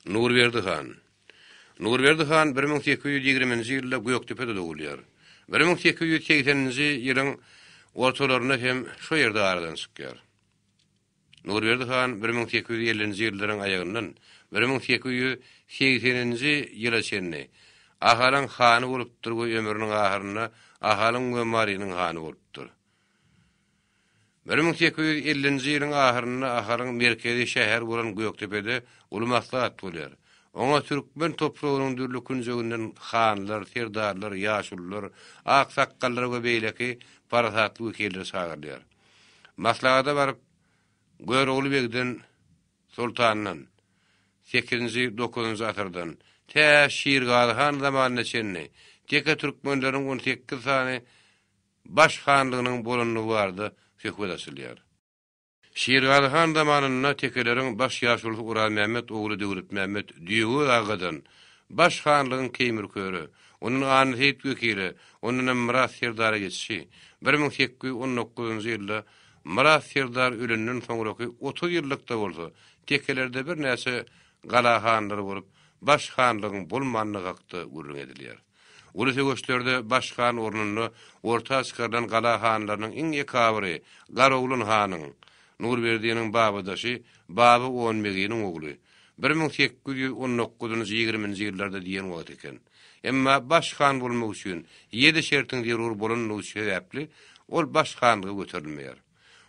Nurberdi han. Nurberdi han bir müň sekiz ýüz ýigriminji ýylda Gökdepede dogulýar. Bir müň sekiz ýüz segseninji ýylyň ortalarynda hem şo ýerde aradan çykýar. Nurberdi han bir müň sekiz ýüz ellinji ýyllaryň aýagyndan bir müň sekiz ýüz segseninji ýyla çenli Ahalyň hany bolupdyr we ömrüniň ahyrynda Ahalyň we Marynyň hany bolupdyr. Bir müň sekiz ýüz ellinji ýylyň ahyrynda Aharyň merkezi şäheri bolan Gökdepede uly maslahat bolýar. Oňa türkmen topragynyň dürli künjeginden hanlar, serdarlar, ýaşulular, aksakgallar we beýleki parasatly wekiller çagyrylýar. Maslahata baryp, Görogly begden, soltandan, sekizinji, dokuzynjy asyrdan, tä Şirgazy han zamanyna çenli, teke türkmenleriň on sekiz sany baş hanlygynyň bolandygy barada söhbet açylýar. Şirgazy han zamanynda tekeleriň baş ýaşulusy Uranmämmet ogly Döwletmämmet Düýegöz agadan baş hanlygyň Keýmirköre, ondan Annaseýit wekile, ondanam Myrat serdara geçişi, bir müň sekiz ýüz on dokuzynjy ýylda Myrat serdar ölenden soňraky otuz ýyllykda bolsa tekelerde birnäçe gala hanlary bolup, baş hanlygyň bolmandygy hakda gürrüň edilýär. Uly söweşlerde baş han ornunda orta çykarylan gala hanlarynyň iň ekabyry Garagulyn hanyň, Nurberdiniň babadaşy Baba Onbeginiň ogly, bir müň sekiz ýüz on dokuz njy ýigrimi nji ýyllarda diýen wagty eken. Emma baş han bolmak üçin ýedi şertiň zerur bolandygy sebäpli ol baş hanlyga göterilmeýär.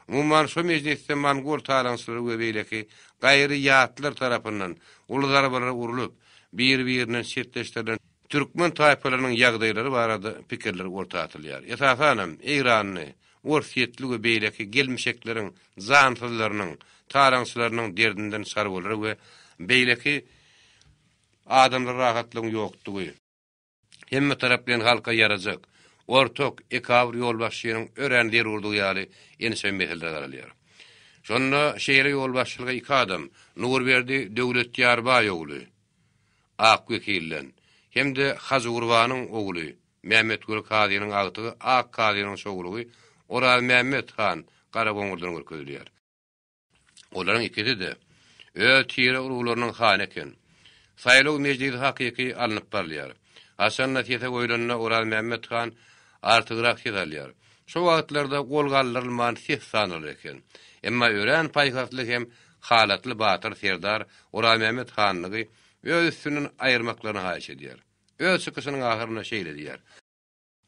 Umuman, şu mejlisde mongol talaňçylary we beýleki gaýry ýatlar tarapyndan uly zarbalar urlup, biri-birinden çetleşdirilen türkmen taýpalarynyň ýagdaýlary barada pikirler orta atylýar. Esasanam, eýranly, orsýetli we beýleki gelmişekleriň jansyzlarynyň, talaňçylarynyň derdinden çarwalar we beýleki adamlara rahatlygyň ýokdugy, hemmetaraplaýyn halka ýarajak, ortak, ekabr ýolbaşçynyň örän zerurdygy ýaly ençeme meselelere garalýar. Şonda şeýle ýolbaşçylyga iki adam, Nurberdi Döwletýarbaý ogly, ak wekilden, hem-de Hajygurbanyň ogly, Mämmetguly kazynyň agtygy ak kazynyň çowlugy Orazmämmet han Garagoňurdan görkezilýär. Olaryň ikisi-de öz tire-uruglarynyň hany eken. Saýlaw mejlisi hakyky alnyp barylýar. Haçan-da sese goýlanda Orazmämmet han artygrak ses alýar. Şo wagtlarda gol galdyrylman ses sanalar eken. Emma örän paýhasly hem halatly batyr serdar Orazmämmet hanlygy öz üstünden aýyrmaklaryny haýyş edýär. Öz çykyşynyň ahyrynda şeýle diýýär.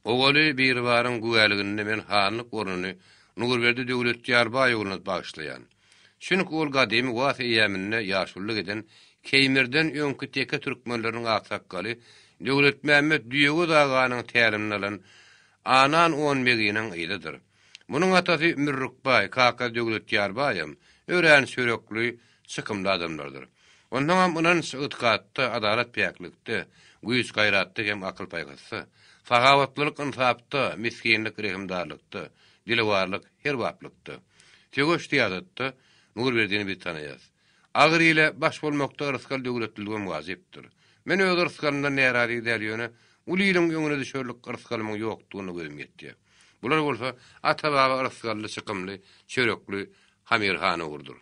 Owaly Biribaryň güwäliginde men hanlyk ornuny Nurberdi Döwletýar baý ogluna bagyşlaýan. Çünki ol gadymy was eýäminde ýaşulylyk eden Keýmirden öňki teke türkmenleriniň aksakgaly Döwletmämmet Düýegöz aganyň tälimini alan Anan-on beginiň gyzydyr. Munuň atasy Mürrük baý, kakasy Döwletýar baýam örän çörekli, çykymly adamlardyr. Onsoňam ynanç-ygtykatda, adalat-päklikde, güýç-gaýratda hem akyl-paýhasda, sahawatlylyk-ynsapda, misginlik-rehimdarlykda, dilewarlyk-herbaplykda, söweş-syýasatda Nurberdini biz tanaýas. Agyr ile baş bolmakda rysgal döwletliligem wajypdyr. Men öz rysgalymdan närazy däl, ýöne uly iliň öňüne düşerlik rysgalymyň ýokdugyna gözüm ýetýär. Bular bolsa ata-baba rysgally çykymly çörekli Hamirhan ugrudyr.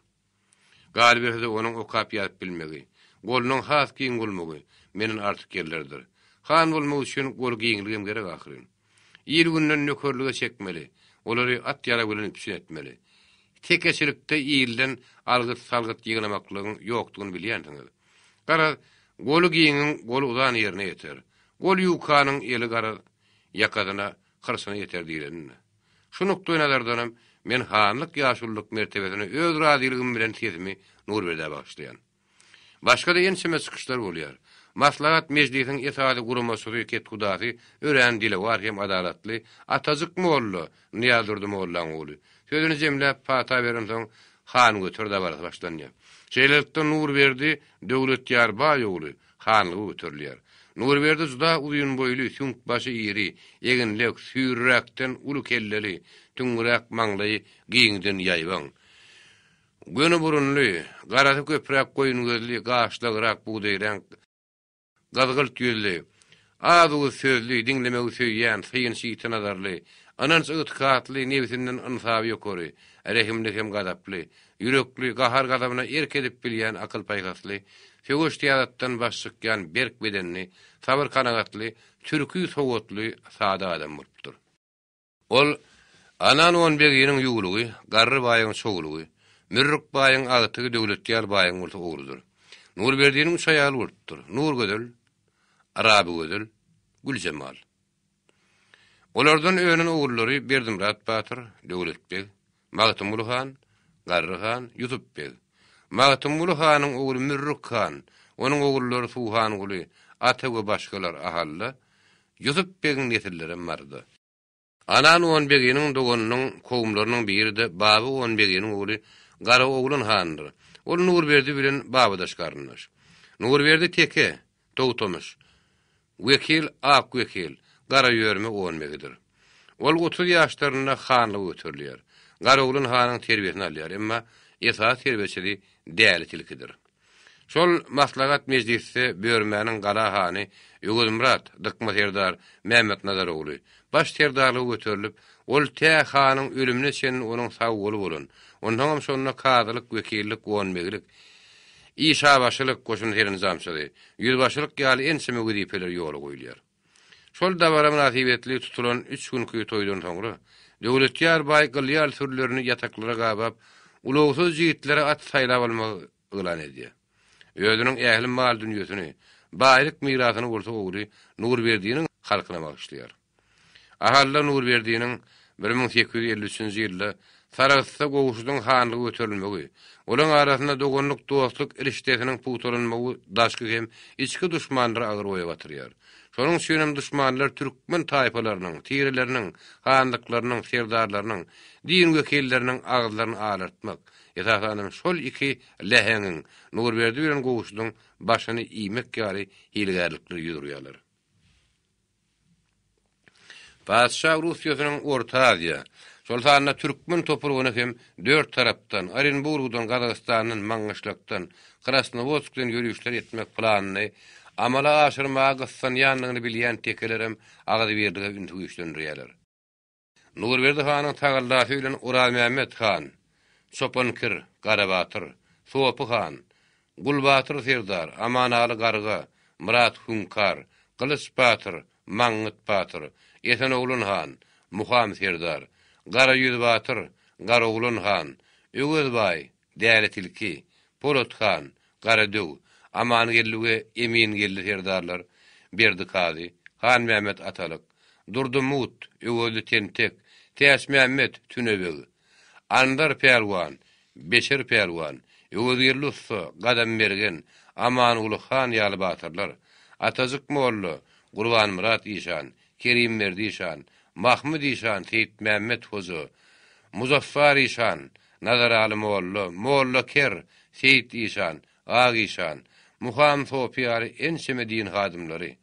Galyberse-de onuň okap-ýazyp bilmegi, golunyň has giň bolmagy menden artyk ýerlerdir. Han bolmak üçin gol giňligem gerek ahyryn. Il-günden nökerlige çekmeli, olary at-ýarag bilen üpjün etmeli. Tekeçilikde ilden algyt-salgyt ýygnamaklygyň ýokdugyny bilýänsiňiz. Garaz, goly giňiň goly uzan ýerine ýeter. Gol ýuwkanyň eli garaz, Ýakasyna, hyrsyna ýeter diýlenini. Şu nukdaýnazardanam men hanlyk-ýaşululyk mertebesine öz razylygym bilen sesimi Nurberdä bagyşlaýan. Başga-da ençeme çykyşlar bolýar. Maslahat mejlisiň esasy guramaçysy, kethudasy, örän dilewar hem adalatly Atajyk molla, Nyýazdurdy mollaň ogly, sözüni jemläp, pata berensoň, hangöter dabarasy başlanýar. Şeýlelikde, Nurberdi Döwletýar baý ogly, hanlygy göterilýär. Nurberdi juda uzyn boýly, süňk başy iri, eginlek, süýriräkden uly kelleli, tüňňüräk maňlaýy giňden ýaýbaň. Göni burunly, garasy köpräk goýun gözli, gaşlagrak bugdaýreňk, gyzgylt ýüzli, Az-uz sözli, diňlemegi söýýän, synçy ýiti nazarly, ynanç-ygtykatly, nebsinden ynsaby ýokary, rehimli hem gazaply, ýürekli, gahar-gazabyna erk edip bilýän akyl-paýhasly, söweş-syýasatdan baş çykýan berk bedenli, sabyr-kanagatly, türki sowatly, sada adam bolupdyr. Ol, Ananwon beginiň ýuwlugy, Garry baýyň çowlugy, Mürrük baýyň agtygy Döwletýar baýyň bolsa ogludyr. Nurberdiniň üç aýaly bolupdyr, Nurgözel, Arabygözel, Güljemal. Olardan önen ogullary Berdimyrat batyr, Döwlet beg, Magtymguly han, Garry han, Ýusup beg. Magtymguly hanyň ogly Mürrük han, onuň ogullary Suhanguly, Ata we başgalar Ahalla, Ýusup begiň nesillerem Marza. Anan on beginiň doganynyň kowumlarynyň biri-de Baby on beginiň ogly Garaoglan handyr. Ol Nurberdi bilen babadaş garyndaş. Nurberdi teke, Togtamyş. Wekil ak wekil, Garaýörme on begidir. Ol otuz ýaşlarynda hanlyga göterilýär. Garoglan hanyň terbiýesini alýar, emma esasy terbiýeçisi Däli tilkidir. Şol maslahat mejlisde Börmäniň gala hany Öwezmyrat, Dykma serdar, Mämmetnazar ogly, baş serdarlyga göterilip, ol tä hanyň ölümine çenli onuň sag goly bolan, onsoňam şonda kazylyk, wekillik, on begilik, Işabaşylyk, goşun serenjamçyly, ýüzbaşylyk ýaly ençeme wezipeler ýola goýulýar. Şol dabara mynasybetli tutulan üç günki toýdan soňra, Döwletýar baý gyly ýaly sürülerini ýataklara gabap, ulagsyz jigitlere at saýlap almagy yglan edýär. Özüniň ähli mal-dünýesini, baýlyk mirasyny bolsa ogly Nurberdiniň halkyna bagyşlaýar. Ahalla Nurberdiniň bir müň sekiz ýüz elli üçünji ýylda Sarahsda Gowşudyň hanlygy göterilmegi, olaryň arasynda doganlyk-dostluk rişdesiniň pugtalanmagy daşky hem içki duşmanlary agyr oýa batyrýar. Şonuň üçin hem duşmanlar türkmen taýpalarynyň, tireleriniň, hanlyklarynyň, serdarlarynyň, din wekilleriniň agyzlaryny alartmak, esasanam şol iki läheňiň, Nurberdi bilen Gowşudyň başyny iýmek ýaly hilegärlikleri ýüz urýarlar. Patyşa Russiýasynyň Orta Aziýa, şol sanda türkmen topragyna hem dört tarapdan, Orenburgdan, Gazagystandan, Maňgyşlakdan, Krasnowodskden ýörişler etmek planyny amala aşyrmaga gyssanýandygyny bilýän tekelerem Agzybirlige ünsi güýçlendirýärler. Nurberdi hanyň tagallasy bilen Orazmämmet han, Çopan kir, Garabatyr, Sopy han, Gulbatyr serdar, Amanaly garga, Myrat hüňkar, Gylyç batyr, Maňňyt batyr, Esenoglan han, Muham serdar, Garaýüz batyr, Garaoglan han, Öwezbaý, Däli tilki, Polat han, Garadöw, Amangeldi we Emingeldi serdarlar, Berdi kazy, Hanmämmet Atalyk, Durdy mugt, Öwezli tentek, Täçmämmet, Tüne beg, Anzar pälwan, Beşer pälwan, Öwezgeldi ussa, Gadam mergen, Amanguly han ýaly batyrlar, Atajyk molla, Gurbanmyrat işan, Kerimberdi şan, Mahmydy şan, Seýitmämmet hoja, Muzaffar işan, Nazaraly molla, Molla ker, Seýit işan, Ak işan, Muham sopy ýaly ençeme din hadymlary,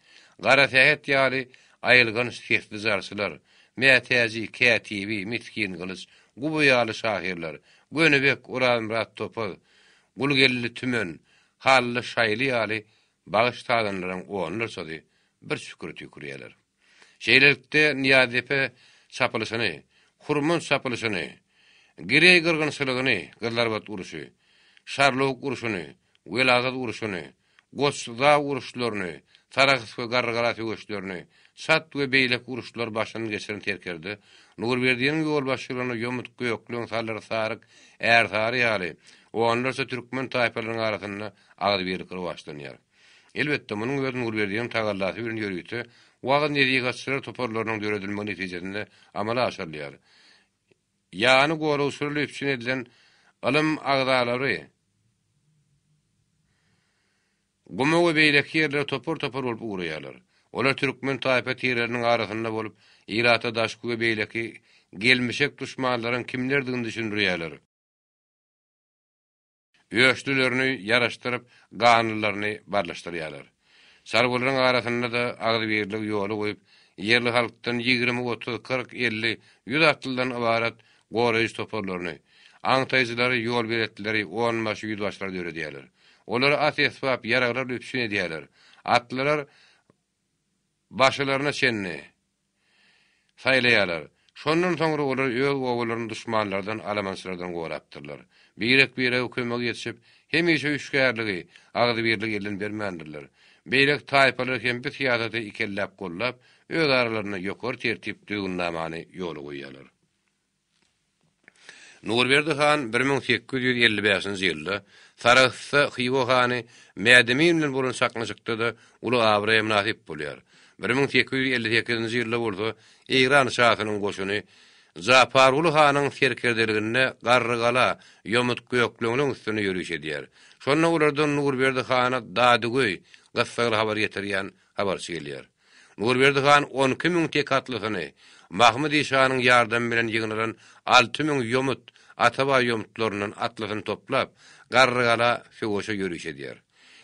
Gara sähet ýaly aýylganç sesli zarçylar, Mätäji, Kätibi, Misgin gylyç, Guba ýaly şahyrlar, Gönübek, Orazmyrat topaz, Gulgeldi tümen, Hally, Şaýly ýaly Bagyş sazanlaryň onlarçasy bir çükür tükürýärler. Şeýlelikde, Nyýazdepe çapylyşyny, Hurmant çapylyşyny, Gireý gyrgynçylygyny, Gyzlarbat urşy, Şarlawuk urşuny, Welagat urşuny, Goç-Zaw uruşlaryny, Sarahs we Garrygala söweşlerini, Çat we beýleki uruşlary başyndan geçiren serkerde Nurberdiniň ýolbaşçylygynda ýomut, gökleň, salyr, saryk, ärsary ýaly, onlarça türkmen taýpalarynyň arasynda agzybirlik rowaçlanýar. Elbetde, munuň öz Nurberdiýewiň tagallasy bilen ýörite wagyz-nesihatçylar toparlarynyň döredilmegi netijesinde amala aşyrylýar. Ýany gola usuly üpjün edilen ylym agzalary Guma we beýleki ýerlere topar-topar bolup ugraýarlar. Olar türkmen taýpa tireleriniň arasynda bolup, ilata daşky we beýleki gelmişek duşmanlaryň kimlerdigini düşündirýärler. Öçlülerini ýaraşdyryp, ganlylaryny barlaşdyrýarlar. Çarwalaryň arasynda-da agzybirligi ýola goýup, ýerli halkdan ýigrimi, otuz, kyrk, elli, ýüz atlydan ybarat goraýjy toparlaryny, aňtaýjylary, ýolbeletlileri, onbaşy, ýüzbaşylary döredýärler. Olary at-esbap, ýaraglar üpjün edýärler. Atlylar başylaryna çenli saýlaýarlar. Şondan soňra olar öz obalaryny duşmanlardan, alamançylardan gorapdyrlar. Birek-birege kömegi ýetişip, hemişe üýşgärligi, agzybirligi elden bermändirler. Beýleki taýpalar hem bu syýasaty ikelläp gollap, öz aralarynda ýokary tertip düzgünnamany ýola goýýarlar. Nurberdi han bir müň sekiz ýüz elli bäşinji ýylda Sarahsda Hywa hany Mädemin bilen bolan çaknyşykda-da uly abraýa mynasyp bolýar. Bir müň sekiz ýüz elli sekizinji ýylda bolsa Eýran şasynyň goşuny Japarguly hanyň serkerdeliginde Garrygala, Ýomut gökleňiň üstünde ýöriş edýär. Şonda olardan Nurberdi hana dadygöý, gyssagly habar getirýän habarçy gelýär. Nurberdi han on iki müň tek atlysyny, Mahmydy şanyň ýardamy bilen ýygnalan alty müň ýomut, Atabaý ýomutlaryndan atlysyny toplap, Garrygala, söweşe ýöriş edýär.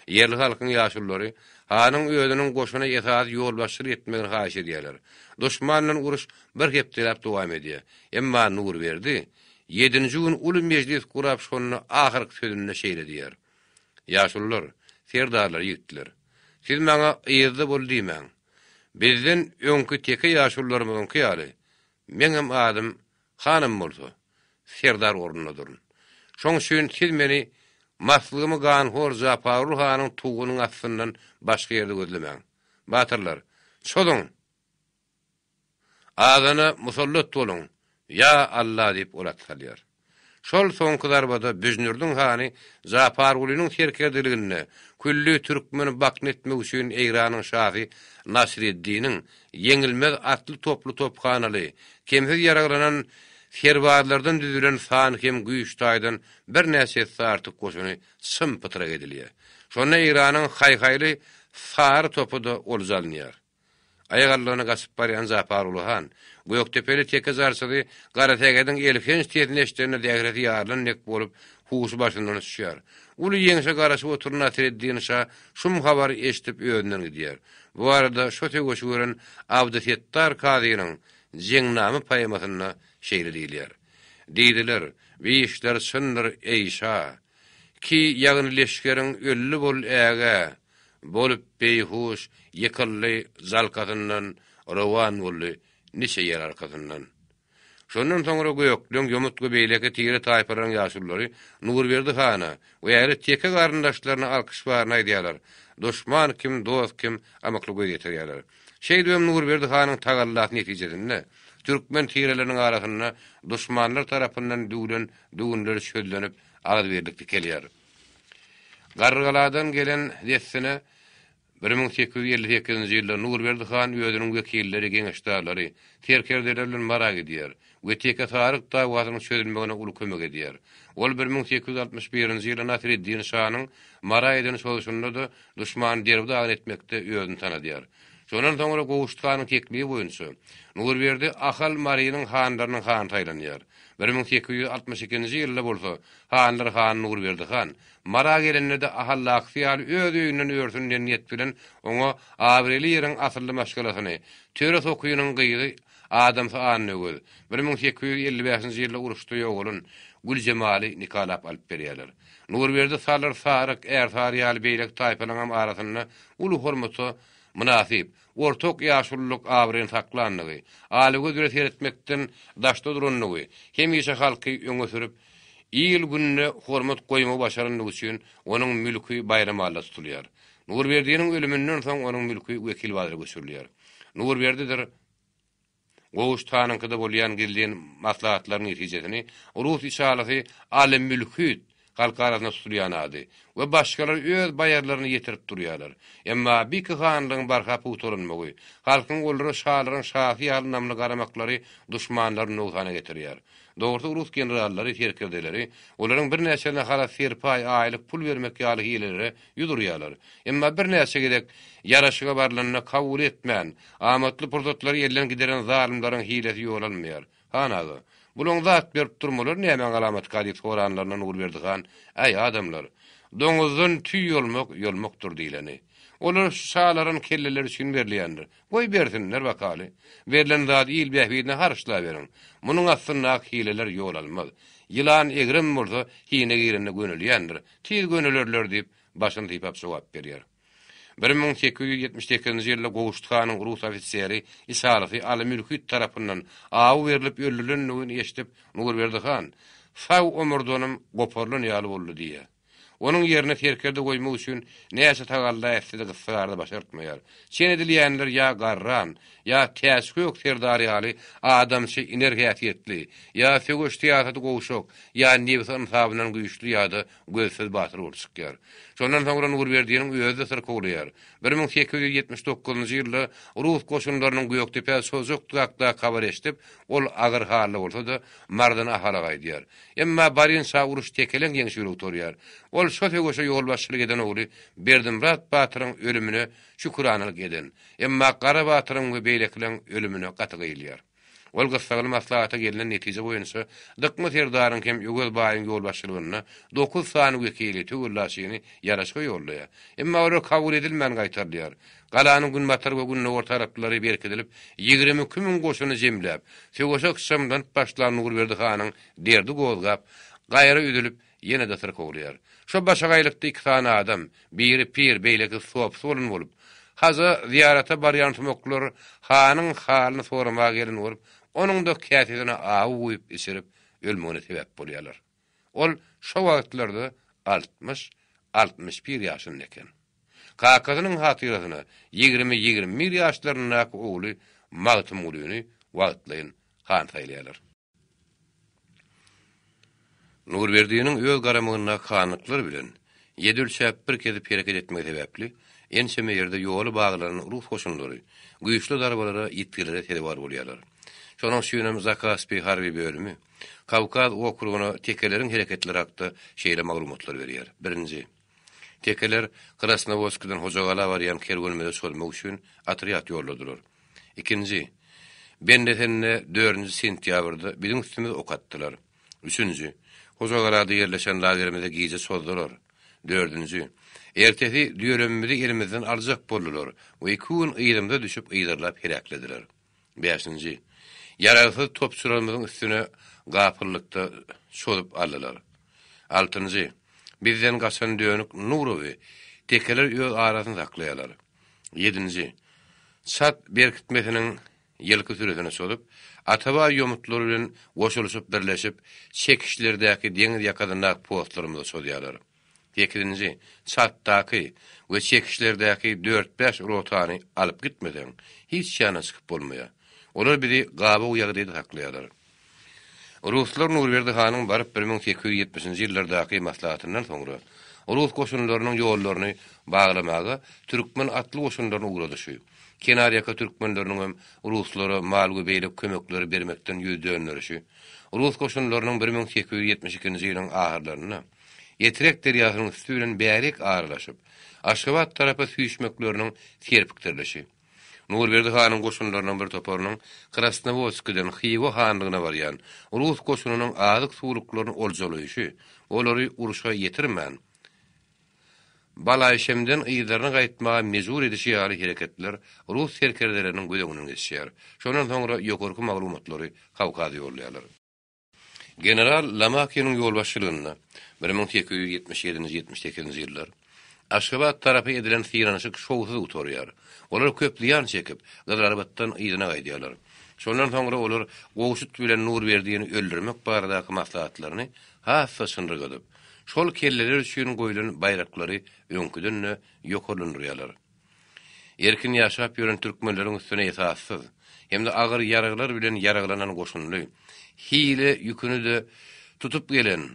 Ýerli halkyň ýaşululary hanyň özüniň goşuna esasy ýolbaşçylyk etmegini haýyş edýärler. Duşman bilen uruş bir hepdeläp dowam edýär. Emma Nurberdi ýedinji gün uly mejlis gurap şonda ahyrky sözünde şeýle diýýär. Ýaşulular, serdarlar ýigitler, siz maňa yzda bol diýmäň. Bizden öňki teke ýaşulularymyzyňky ýaly, meňem adym hanym bolsa, serdar ornunda durun. Şoň üçin siz meni maslygymy ganhor Japargul hanyň tugunyň astyndan başga ýerde gözlemäň. Batyrlar, çozuň! Azana musallat boluň, ýa Alla! diýip ol at salýar. Şol soňky zarbada Büjnürdiň hany Japargulynyň serkerdeliginde külli türkmeni bakna etmek üçin Eýranyň şasy Nasreddiniň ýeňilmez atly-toply tophanaly, kemsiz ýaraglanan serbazlardan düzülen sany hem güýç taýdan birnäçe esse artyk goşuny çym-pytrak edilýär. Şonda Eýranyň haý-haýly sary topy-da olja alynýar. Aýak aldygyna gaçyp barýan Japaruly han, gökdepeli teke jarçyzy Garasägediň elhenç sesini eşidende zähresi ýarylan dek bolup, huşy başyndan uçýar. Uly ýeňşe garaşyp oturan Nasreddin şa şum habary eşidip özünden gidýär. Bu barada şo söweşi gören Abdysetdar kazynyň Jeňnama poemasynda şeýle diýilýär. Diýdiler, Bi işler çyndyr, eý şa! Ki ýagny leşgeriň ölli bol ägä! Bolup beýhuş ýykyldy jalkasyndan rowan boldy niçe ýer arkasyndan. Şondan soňra Gökleň ýomut we beýleki tire taýpalaryň ýaşulylary Nurberdi hana we ähli teke garyndaşlaryna alkyş baryny aýdýarlar, duşman kim, dost kim amykly göz ýetirýärler. Şeýdibem Nurberdi hanyň tagallasy netijesinde türkmen tireleriniň arasynda duşmanlar tarapyndan düwlen düwünler çözlenip agzybirlik dikelýär. Garrygaladan gelen dessine bir müň sekiz ýüz elli sekizinji ýylda Nurberdi han özüniň wekilleri, geňeşdarlary, serkerdeleri bilen Mara gidýär we Teke Saryk dawasynyň çözülmegine uly kömek edýär. Ol bir müň sekiz ýüz altmyş birinji ýylda Nasreddin şanyň Mara eden çozuşynda-da duşmany derbi-dagyn etmekde özüni tanadýar. Şondan soňra Gowşut hanyň teklibi boýunça Nurberdi Ahal Marynyň hanlarynyň hany saýlanýar. Bir müň sekiz ýüz altmyş ikinji ýylda bolsa Hanlar han Nurberdi han, Mara gelende-de Ahallakysy ýaly öz öýünden örsün diýen niýet bilen oňa abraýly ýeriň asylly maşgalasyny, Töre sokynyň gyzy adamsy Annöwez, bir müň sekiz ýüz elli bäşinji ýylda uruşda ýogalan Güljemaly nikalap alyp berýärler. Nurberdi Salyr, Saryk, Ärsary ýaly beýleki taýpalaryňam arasynda uly hormata mynasyp, ortaok ýaşululyk abraýyny saklandygy, alagöz bile seretmekden daşda durandygy hemişe halky öňe sürüp, Il-günde hormat goýmagy başarandygy üçin onuň mülki Baýramalla tutulýar. Nurberdiniň ölüminden soň onuň mülki Wekilbazara göçürilýär. Nurberdidir Goguş hanyňkyda bolýan gizlin maslahatlaryň netijesini rus içalasy Aly Mülhüt, halk arasynda tutulýan ady, we başgalar öz baýarlaryna ýetirip durýarlar. Emma biki hanlygyň barha pugtalanmagy, halkyň olara şalaryň şasy ýaly ynamly garamaklary duşmanlary nogsana getirýär. Dogrusy rus generallary, serkerdeleri, olaryň birnäçelerine halas serpaý, aýlyk pul bermek ýaly hilelere ýüz urýarlar. Emma birnäçe gezek ýaraşyga barylanda kabul etmän, amatly pursatlary elden gideren zalymlaryň hilesi ýolanmaýar. Han aga, bulaň zat berip durmalary nämäň alamatyka diýip soranlarynda Nurberdi han, Äý, adamlar! Doňuzdan tüý ýolmak, ýolmakdyr diýleni. Olar şu şalaryň kelleleri üçin berilýändir. Goý bersinler bakaly. Berlen zady il bähbidine harçlaberiň. Munuň astyndaky hileler ýol almaz. Ýylan egrem bolsa hine girende gönülýändir. Tiz gönülerler, diýip, başyny sypap jogap berýär. Bir müň sekiz ýüz ýetmiş sekizinji ýylda Gowşut hanyň rus ofiseri, ishalysy Aly Mülhüt tarapyndan aw berlip öldürilendigini eşidip, Nurberdi han, Sag omurdanym goparylan ýaly boldy diýýär. Onuň ýerine serkerde goýmak üçin näçe tagalla etse-de gyssagarda başartmaýar. Çen edilýänler ýa garran, ýa täçgök serdar ýaly adamçy iner häsiýetli, ýa söweş syýasaty gowşak, ýa nebsi ynsabyndan güýçli ýa-da gözsüz batyr bolup çykýar. Şondan soňra Nurberdiniň özi-de syrkawlaýar. Bir müň sekiz ýüz ýetmiş dokuzynjy ýylda rus goşunlarynyň Gökdepä çozjakdygy hakda habar eşidip, ol agyr halda bolsa-da, Mardana Ahala gaýdýar. Emma barýan çagy uruş tekeleň ýeňşe ýüregi tolýar. Ol şo söweşe ýolbaşçylyk eden ogly Berdimyrat batyryň ölümine şüküranalyk eden, emma Gara batyryň we beýlekileň ölümine gaty gyýylýar. Ol gyssagly maslahata gelnen netije boýunça Dykma serdaryň hem Öwez baýyň ýolbaşçylygynda dokuz sany wekili, töwellaçyny, ýaraşyga ýollaýar. Emma olar kabul edilmän gaýtarylýar. Galanyň günbatar we gündogar taraplary berkidilip, ýigrimi iki müň goşuny jemläp, söweşe ykjamlanyp başlan Nurberdi hanyň derdi gozgap, gaýra üzülip, ýene-de syrk ugurýar. Şo başagaýlykda iki sany adam, biri pir, beýlekisi sopy bolan bolup, haja zyýarata barýan sumaklar hanyň halyny soramaga gelen bolup, onuň-da käsesine awy guýup içirip, ölmegine sebäp bolýarlar. Ol şo wagtlarda altmyş, altmyş bir ýaşynda eken. Kakasynyň hatyrasyna ýigrimi-ýigrimi bir ýaşlaryndaky ogly Magtymgulyny wagtlaýyn han saýlaýarlar. Nurberdiniň öz garamagyndaky hanlyklar bilen ýedi ölçäp bir kesip hereket etmegi sebäpli, ençeme ýerde ýoly baglan rus goşunlary güýçli zarbalara, ýitgilere sezewar bolýarlar. Şonuň üçinem Zakaspi harby bölümi Kawkaz okrugyna tekeleriň hereketleri hakda şeýle maglumatlar berýär, Birinji. Tekeler Krasnowodskiden Hojagala barýan kerwenimize çozmak üçin otrýad ýolladylar. Ikinji. Bendesende dördünji sentýabrda biziň üstümize ok atdylar. Üçünji. Hojagalada ýerleşen lagerimize gije çozdular. Dördünji. Ertesi düýelemimizi elimizden aljak boldular we iki gün yzymyza düşüp yzarlap heläklediler. Bäşinji. Ýaragsyz topçularymyzyň üstüne gapyllykda çozup aldylar. Altynjy. Bizden gaçan dönük Nurowy tekeler öz arasyny saklaýarlar. Ýedinji. Çat berkitmesiniň ýylky süresine çozup, Atabaý ýomutlary bilen goşulyşyp birleşip, çekişlerdäki deňiz ýakasyndaky postlarymyza çozýarlar. Sekizinji çartdaky we çekişlerdäki dört-bäş rotany alyp gitmeseň, hiç ýana çykyp bolmaýar. Olar bizi gabaw ýagdaýda saklaýarlar. Ruslar Nurberdi hanyň baryp bir müň sekiz ýüz ýetmişinji ýyllardaky maslahatyndan soňra, rus goşunlarynyň ýollaryny baglamaga türkmen atly goşunlaryny ugradyşy, kenarýaka türkmenleriniň hem ruslara mal we beýleki kömekleri bermekden ýüz dönderişi, rus goşunlarynyň bir müň sekiz ýüz ýetmiş ikinji ýylyň ahyrlarynda, Etrek derýasynyň üsti bilen bärik aralaşyp, Aşgabat tarapa süýşmekleriniň serpikdirilişi. Nurberdi hanyň goşunlarynyň bir toparynyň Krasnowodskiden Hywa hanlygyna barýan rus goşunynyň azyk-suwluklaryny oljalaýşy, olary urşa ýetirmän, Balaýşemden yzlaryna gaýtmaga mejbur edişi ýaly hereketler rus serkerdeleriniň göz öňünden geçýär. Şondan soňra ýokarky maglumatlary Kawkaza ýollaýarlar. General Lamakynyň ýolbaşçylygynda bir müň sekiz ýüz ýetmiş ýedinji ýetmiş sekizinji ýyllar Aşgabat tarapa edilen synanyşyk şowsuz gutarýar. Olar köp zyýan çekip, Gyzylarbatdan yzyna gaýdýarlar. Şondan soňra olar Gowşut bilen Nurberdiýni öldürmek baradaky maslahatlaryny has-da çynrygadyp, şol kelleler üçin goýlan baýraklary öňküden-de ýokarlandyrýarlar. Erkin ýaşap ýören türkmenleriň üstüne esassyz hem-de agyr ýaraglar bilen ýaraglanan goşunly hile ýüküni-de tutup gelen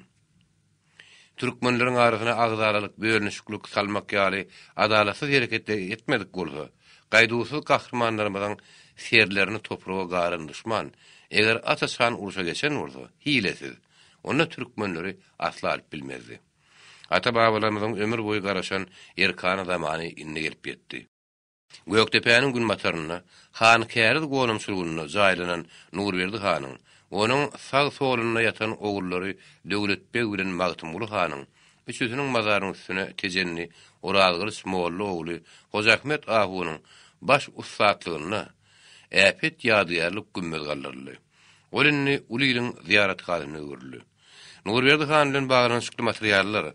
türkmenleriň arasyna agzalalyk, bölünişiklik salmak ýaly adalatsyz hereketleri etmedik bolsa, gaýduwsyz gahrymanlarymyzyň serlerini topraga garan duşman, eger aç-açan urşa geçen bolsa, hilesiz, onda türkmenleri asla alyp bilmezdi. Ata-babalarymyzyň ömür boýy garaşan erkana zamany indi gelip ýetdi. Gökdepäniň günbatarynda, Hankäriz gonamçylygynda jaýlanan Nurberdi hanyň, onuň sag-solunda ýatan ogullary Döwlet beg bilen Magtymguly hanyň üçüsiniň mazarynyň üstüne Tejenli Orazgylyç molla ogly Hojaahmet ahunyň baş ussatlygynda äpet ýadygärlik gümmez galdyryldy. Ol indi uly iliň zyýarathanasyna öwrüldi. Nurberdi han bilen baglanyşykly materiallar.